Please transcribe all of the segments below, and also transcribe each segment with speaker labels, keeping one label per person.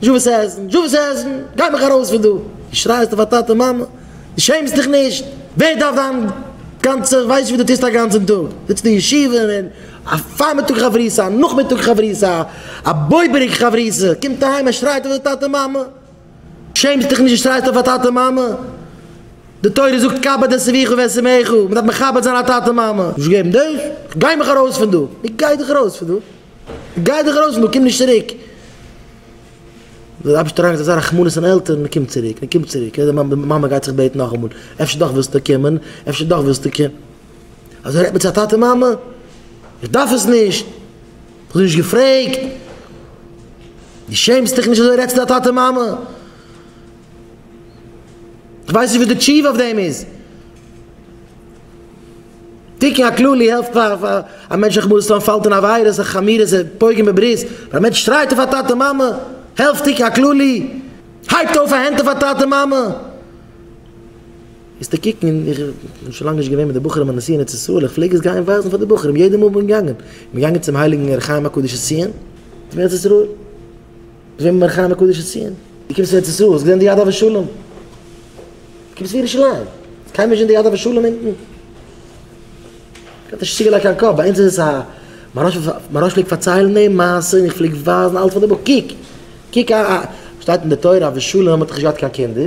Speaker 1: דזשאוויס העזן, דזשאוויס העזן, גיי מיך ארויס פון דא! דו שרייסט אויף א טאטע און מאמע? דו שעמסט דיך נישט? ווער דארף דיין גאנצע ווייסט וואס דו טוסט א גאנצן טאג? זיצט אין ישיבה און א פארמיטאג חברותא, א נאכמיטאג חברותא, א בויבעריק חברותא, קומט אהיים ער שרייט אויף די טאטע מאמע? דו שעמסט דיך נישט דו שרייסט אויף א טאטע מאמע? די תורה זאגט כבד את אביך ואת אמך, מען דארף מכבד זיין א טאטע מאמע. גיי מיך ארויס פון דא! ווי גיי דיך ארויס פון דא? גיי דיך ארויס נאר קום נישט צוריק! דער אייבערשטער האט אזא רחמנות אויף עלטערן, מען קומט צוריק, מען קומט צוריק, די מאמע גייט זיך בעטן נאכאמאל, אפשר דאך ווילסטו קומען, אפשר דאך ווילסטו קומען, אזוי רעדט מען צו א טאטע מאמע? איך דארף עס נישט, איך האב דיר נישט געפרעגט, דו שעמסט דיך נישט אזוי רעדסטו צו א טאטע מאמע? איך ווייס נישט וואס די תשובה אויף דעם איז. תיקון הכללי העלפט פאר פאר א מענטש זיך מוז טון פאלט אין עבירות און חמירות און פוגם בברית, פאר א מענטש שרייט אויף א טאטע מאמע העלפט תיקון הכללי, הייבט אויף א הענט אויף א טאטע מאמע איז די קוקן אין איך בין שוין לאנג נישט געווען מיט די בחורים אין נשיא ארץ ישראל איך פלעג עס גיין ווייזן פאר די בחורים יעדע מאל איך בין געגאנגען, איך בין געגאנגען צום הייליגן ר' חיים הקדוש אין ציון, צום ארץ ישראל. זעמיר מיר חיים הקדוש זי ע. דו קומסט ארץ ישראל, האסט געזען די יד אבות שלום? דו קומסט פון ירושלים, איז קיינמאל נישט געווען די יד אבות שלום אונטן? האט נישט צוגעלייגט קיין קאפ, ביי אונז איז עס א, מיין רב פלעגט פארציילן די מעשה און איך פלעג ווייזן אלץ פאר די בחור, קוק, קוק, שטייט אין די תורה אבות שלום האט דאך נישט געהאט קיין קינדער,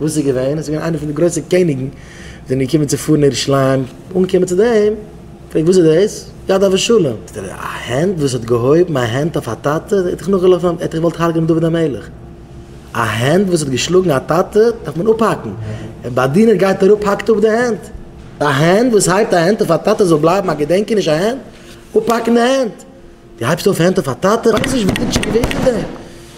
Speaker 1: וואס איז געווען? עס איז געווען איינער פון די גרויסע קעניגן זענען געקומען צו פארן ירושלים, אנגעקומען צו דעם, פרעגט וואס איז דאס? יד אבשלום! זאגט ער, א הענט וואס האט געהויבן א הענט אויף א טאטע, ער האט דיך נאכגעלאפן, ער האט דיך געוואלט הרג'ענען דוד המלך, א הענט וואס האט געשלאגן א טאטע דארף מען אפהאקן, דער באדינער גייט אראפ האקט אפ די הענט, א הענט וואס הייבט א הענט אויף א טאטע זאל בלייבן א געדענקעניש אהן אפהאקן די הענט, דו הייבסט אויף הענט אויף א טאטע, ווייס נישט וואס איז געווען פון דעם.